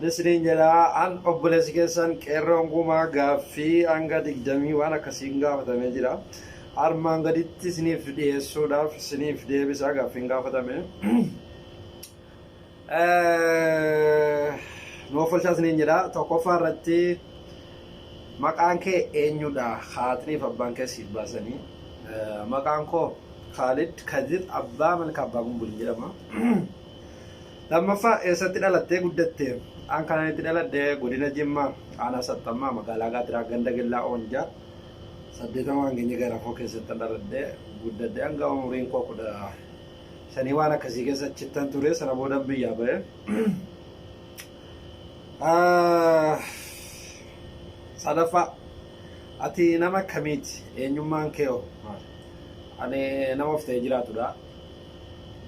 Ni siniin jedha an obboleessi keessan qeerroon gumaa gaaffii hanga digdamii waan akkasiin gaafatamee jira. Armaan gaditti siniif dhiyeessuudhaaf siniif deebisa gaaffiin gaafatame. Nuuf olchaa siniin jedha tokkoffaa irratti maqaan kee eenyudha haatniif abbaan kee siif baasanii. Maqaan koo Kaalid Kadir Abbaa Malkaa Abbaa Gumbuliin jedhama. Lammaffaa eessatti dhalattee guddatte? An kanan itti dhaladhe godina Jimmaa aanaa Saxxammaa magaalaa Gaatiraa ganda Gillaa Oonjaa saddeetamaa hangenye garafoo keessatti an dhaladhe guddadhe hanga umuriin koo kudha shanii waan akkasii keessa achittan ture sana boodan biyyaa ba'e. Ah, Sadaffaa ati nama akkamiiti? Eenyummaan kee hoo maali? Ani nama of ta'ee jiraatudha.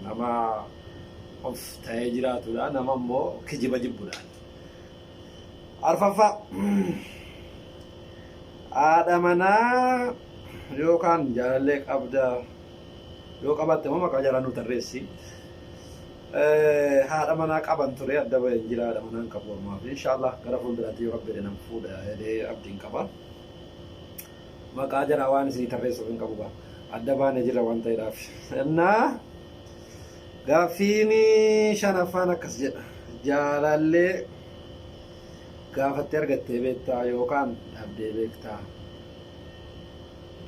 Nama of ta'ee jiraatudha. Nama immoo kijiba jibbudha. Arfaffaa haadha manaa yookaan jaalallee qabda yoo qabatte immoo maqaa jaalaa nu tarreessi. Eh, Haadha manaa qaban ture adda bahee hin jira haadha manaa hin qabu ammaa fi inshaallah gara fuulduraatti yoo rabbi jedhan fuudha jedhee abdiin qaba. Maqaa jaraa waan isinii tarreessuuf hin qabu gaa. Adda baanee jirra waan ta'eedhaaf. Innaa Gaaffiin shanaffaan akkas jedha. Jaalallee gaafattee argattee beektaa yookaan dhabdee beektaa?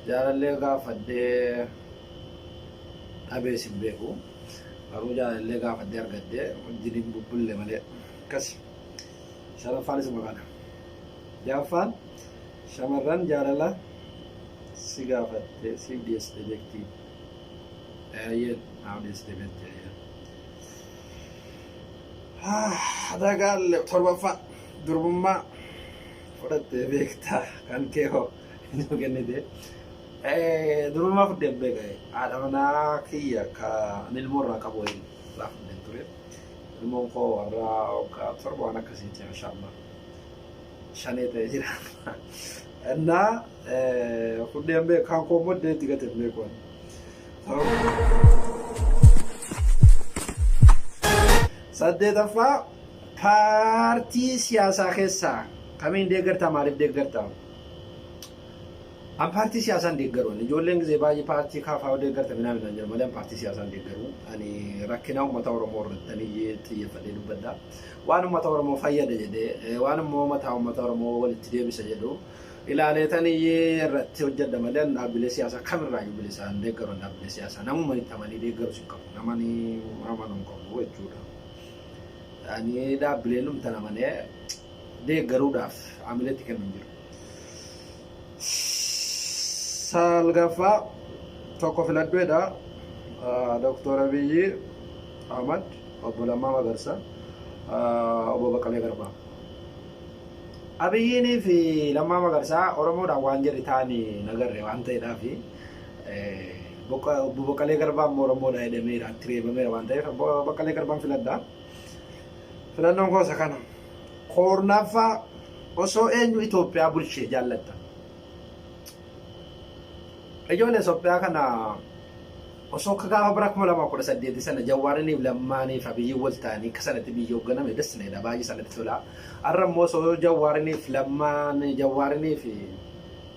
Jaalallee gaafadhee dhabees hin beeku. Garuu jaalallee gaafadhee argadhee wajjin hin bubbulle malee akkasi. Shanaffaan isuma kana. Jaaffaan shamarran jaalala si gaafattee siif dhiyeessitee beektii? Eeyyeen Haawunis deemetti eeyyeen. Dagaalle torbaffaa durbummaa fudhattee beektaa kan kee hoo nuu kennite. Durbummaa fudheen beeka haadha manaa kiyya ka ani ilmoo irraa qabu waliin irraa fudheen ture. Ilmoon koo warraa waggaa torba waan akkasiiti mashaa Allah. shanee ta'e jira. Innaa kunneen beeku kan koo immoo deetti gadi hin beeku. Saddeetaffaa paartii siyaasaa keessaa kamiin deeggartaa maaliif deeggartaa? An paartii siyaasaa hin deeggaru. Ani ijoolleen gizee baay'ee paartii kaafaa yoo deeggarta minaa minaan jedhu malee an paartii siyaasaa hin deeggaru. Ani rakkinaa uummata Oromoo irratti ani xiyyeeffadhee dubbadha. Waan uummata Oromoo fayyada jedhee waan immoo mataa uummata Oromoo walitti deebisa jedhu ilaalee tani irratti hojjedha malee an dhaabbilee siyaasaa kamirraayyuu bilisaa hin deeggaru an dhaabbilee siyaasaa namuma itti amanii deeggarus hin qabu namani amanuu hin qabu jechuudha. Ani dhaabbilee numtan amanee deeggaruudhaaf amileetti kennu hin jiru. Saalgaffaa tokko filadhu jedha Dooktor Abiyyi Ahmad, Obbo Lammaa Magarsa, Obbo Baqqalee Garbaa. Abiyyiinii fi Lammaa Magarsaa Oromoodhaan waan jedhe taani nagarre waan ta'eedhaa fi Obbo Baqqalee Garbaa immoo Oromoodhaa jedhameera, itti reebameera waan ta'eef Obbo Baqqalee Garbaan filadha. Filannoon koo isa kana. Koornaffaa osoo eenyu Itoophiyaa bulchee jaallatta. Ijoollee Itoophiyaa kana osoo akka gaafa bara kuma lamaa kudha saddeeti sana Jawwaariniif Lammaaniif Abiyyiin wal ta'anii akka sanatti biyya hoogganame das na jedha baay'ee sanatti tola. Har'a immoo osoo Jawwaariniif Lammaan Jawwaariniif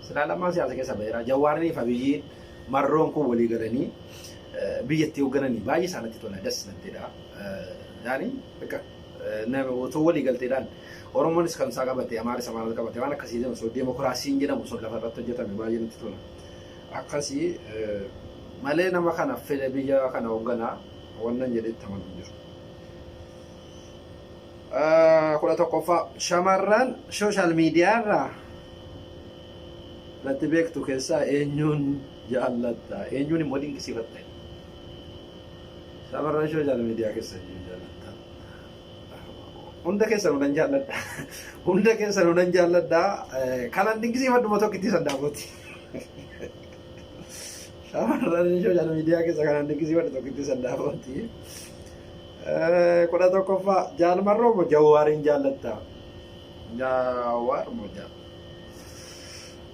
silaa Lammaan siyaasa keessa ba'eera. Jawwaariniif Abiyyiin marroon kun walii galanii biyyatti hooggananii baay'ee isaanitti tola das natti jedha. Yaani bakka otoo walii galteedhaan Oromoonis kan isaa qabate Amaaris Amaaras qabate waan akkasii jedhamu osoo deemokiraasiin jedhamu sun lafa irratti hojjetame baay'ee natti tola. Akkasii malee nama kana fedhe biyya kana hoogganaa wannan jedhetti amanu jiru. Kudha tokkoffaa shamarran sooshaal miidiyaa irraa natti beektu keessaa eenyuun jaallatta eenyuun immoo dinqisiifatta shamarran sooshaal miidiyaa keessa jiru jaallatta hunda keessa nunan jaalladha hunda keessa nunan jaalladha kanan dinqisiifadhuma tokkitti san daawwati shamarran sooshaal miidiyaa keessa kanan dinqisiifadhu tokkitti san daawwati kudha tokkoffaa jaalmarroo mo jawwaariin jaallatta jawwaar mo jaalladha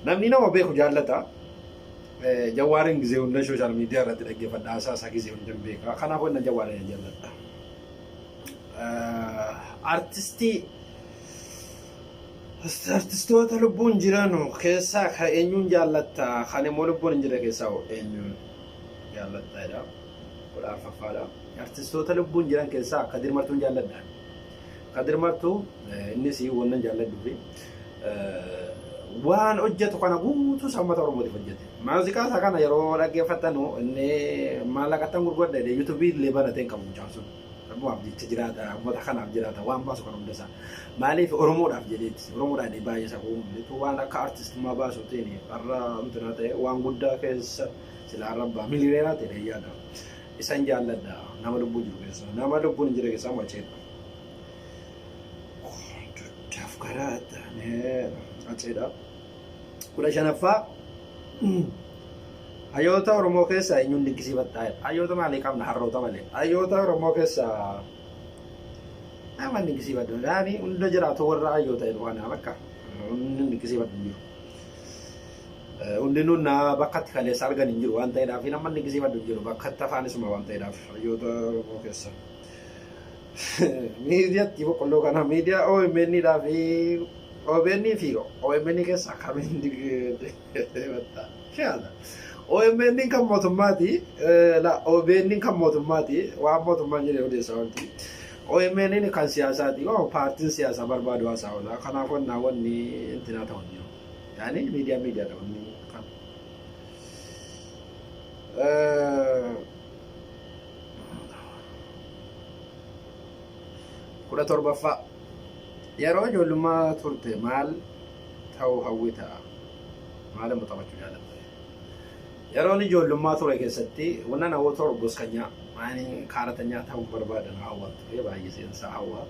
Namni nama beeku jaallata. Jawaarin gizee hunda sooshaal miidiyaa irratti dhaggeeffadha haasaa isaa gizee hunda hin beeka. Kanaafuu inni jawaarin jaalladha. Artistii artistoota lubbuun jiran keessaa kan eenyuun jaallatta kan immoo lubbuun hin jirre keessaa hoo eenyuun jaallatta jedha. Kudha arfaffaadha. Artistoota lubbuun jiran keessaa akka dirmartuun jaalladha. Kadir Martu innis wannan jaalladhuufi waan hojjetu kana guutuu sammata Oromootiif hojjete. Maaziqaa isaa kana yeroo dhaggeeffattanu inni maallaqattan gurgurda jedhee yuutuubii illee banatee hin qabu mucaan sun. Rabbumaaf jecha jiraata, uummata kanaaf jiraata, waan baasu kan hunda isaa. Maaliif Oromoodhaaf jedheeti. Oromoodhaan inni baay'ee isaa kuun bitu waan akka artistummaa baasuutiin har'a amtinaa ta'e waan guddaa keessa silaa rabbaa miliyoonaa ta'e yaada. Isan jaalladha nama lubbuu jiru keessaa nama lubbuun hin jirre keessaa maceedha. Dugdaaf garaa taanee maceedha. Kudha shanaffaa hayyoota Oromoo keessaa eenyuun dinqisiifattaa jedha. Hayyoota maalii qabna harroota malee. Hayyoota Oromoo keessaa nama dinqisiifadhu. Yaani hunda jiraatu warra hayyoota jedhu kana bakka. Hunda dinqisiifadhu jiru. Hundinuu naa bakkatti kaleessa argan hin jiru waan ta'eedhaaf hin ammanni gisiifadhu hin jiru bakkatti afaan isuma waan ta'eedhaaf hayyoota Oromoo keessa. Miidiyatti boqqolloo kana miidiyaa OMN dhaa fi OBN fi OMN keessa akkamiin deemattaa? Shaala. OMN kan mootummaati la OBN kan mootummaati waan mootummaan jedhee odeessaa wanti. OMN kan siyaasaati waan paartiin siyaasaa barbaadu haasaa oola kanaaf wannaa wanni intinaa ta'u hin jiru. Yaani miidiyaa miidiyaadha wanni kan. kudha torbaffaa yeroo ijoollummaa turte maal ta'uu hawwita maal immoo taphachuu jaalatta yeroon ijoollummaa ture keessatti wanna namoota ta'u goskanyaa maani kaaratanyaa ta'uu barbaadan hawwatu baay'ee seensaa hawwa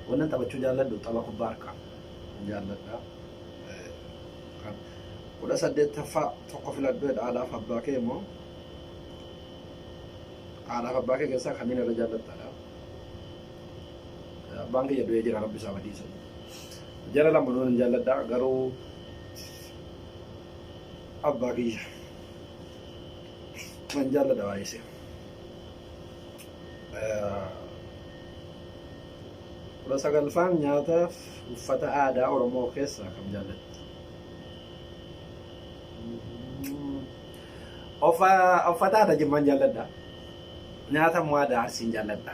wanna taphachuu jaalladhu tapha kubbaa harkaa jaalladha. Kan kudha saddeettaffaa tokko filadhu jedha haadhaaf abbaa kee immoo haadhaaf abbaa kee keessaa kamiin irra jaallattaadha. Abbaan kiyya du'ee jira rabbi isaa badiisa. Jara lama nuun hin jaalladha garuu abbaa kiyya nan jaalladha baay'isee. kudha sagalffaan nyaataaf uffata aadaa Oromoo keessaa kam jaallattu? Uffata aadaa Jimmaan jaalladha. Nyaata immoo aadaa Arsiin jaalladha.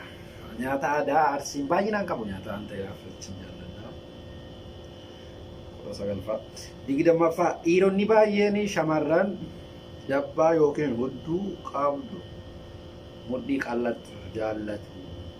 Nyaata aadaa Arsiin baay'inaan qabu nyaata waan ta'eef ittiin jaalladha. Kudha sagalffaa. Digdammaffaa dhiironni baay'een shamarran dabbaa yookiin hudduu qabdu mudhii qal'attu jaallatu.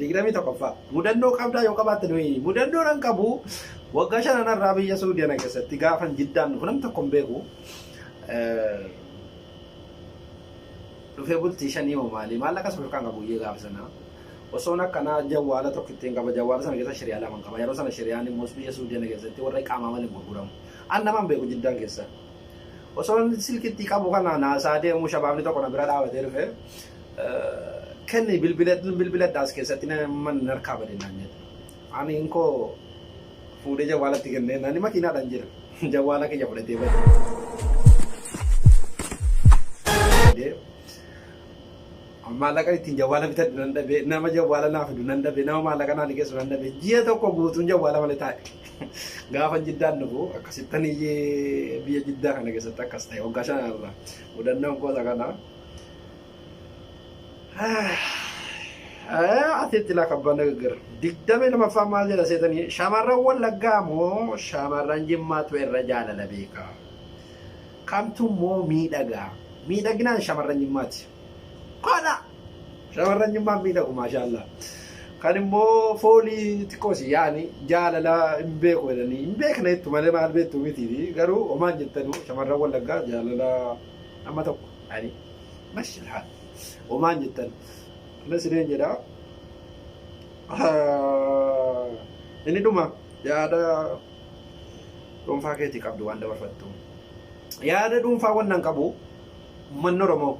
digdamii tokkoffaa mudannoo qabdaa yoo qabaatte nuyi mudannoo nan qabu waggaa shanan irraa biyya suudiyana keessatti gaafan jiddaan dhufu nam tokko hin beeku dhufee bultii shanii hoo maali maal akkas ofirkaan qabu iyyee gaafa sana osoon akkanaa jawwaala tokko ittiin qaba jawwaala sana keessa shiriyaa lama qaba yeroo sana shiriyaan immoo biyya suudiyana keessatti warra qaamaa waliin gurguramu an namaan beeku jiddaan keessa Osoon silkitti qabu kana naasaa deemuu shabaabni tokko na bira dhaabatee dhufe. Kenni bilbiladha as keessatti man narkaa bade naan jedhe. Ani inkoo fuudhee jawwaalatti kennee nani makiinaadhaan jira. Jawwaala kiyya fudhatee bade. Maallaqan ittiin jawwaala bitadhu nan dhabe, nama jawwaala naa fidu nan dhabe, nama maallaqa naa liqeessu nan dhabe. Ji'a tokko guutuun jawwaala malee taa'e. Gaafa jiddaan dhufu akkasittan iyyee biyya jiddaa kana keessatti akkas ta'e waggaa shan irra mudannoon gosa kana. Ati itti laa kabbaan nagaggara. Digdamii lamaffaa maal jedha seetanii shamarran wallaggaa moo shamarran jimmaatu irra jaalala beekaa. Kamtu moo miidhagaa. Miidhaginaan shamarran jimmaati. Kola! Shamarran jimmaan miidhagu maashaallaa. Kan immoo foolii xiqqoo si yaani jaalala hin beeku jedhanii hin beekne jettu malee maal beektu miti fi garuu homaan jettanu shamarran wallaggaa jaalala amma tokko ani mashalhaa homaan jettan ana sireen jedha inni dhuma yaada dhuunfaa keetii qabdu waan dabarfattu yaada dhuunfaa wannan qabu Ummanni Oromoo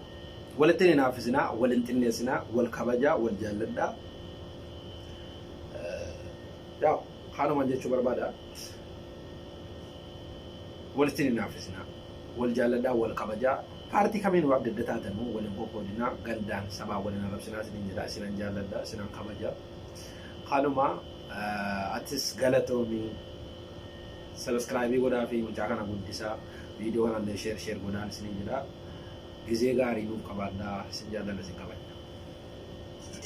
walitti hin hinaaffisinaa, wal hin xinneessinaa, wal kabajaa, wal jaalladhaa. Yaa kaanuman jechuu barbaada. Walitti hin hinaaffisinaa, wal jaalladhaa, wal kabajaa. Paartii kamiinuu adda adda taatanuu wal hin qoqqoodinaa, gandaan sabaan wal hin arrabsinaa isiniin jedha. Isinan jaalladha, isinan kabaja. Kanuma atis galatoomi. Subscribe godhaafi mucaa kana guddisaa. Video kanallee share share godhaan isiniin jedha. Gizee gaarii nuuf qabaadhaa. Isin jaallanna isin kabajna.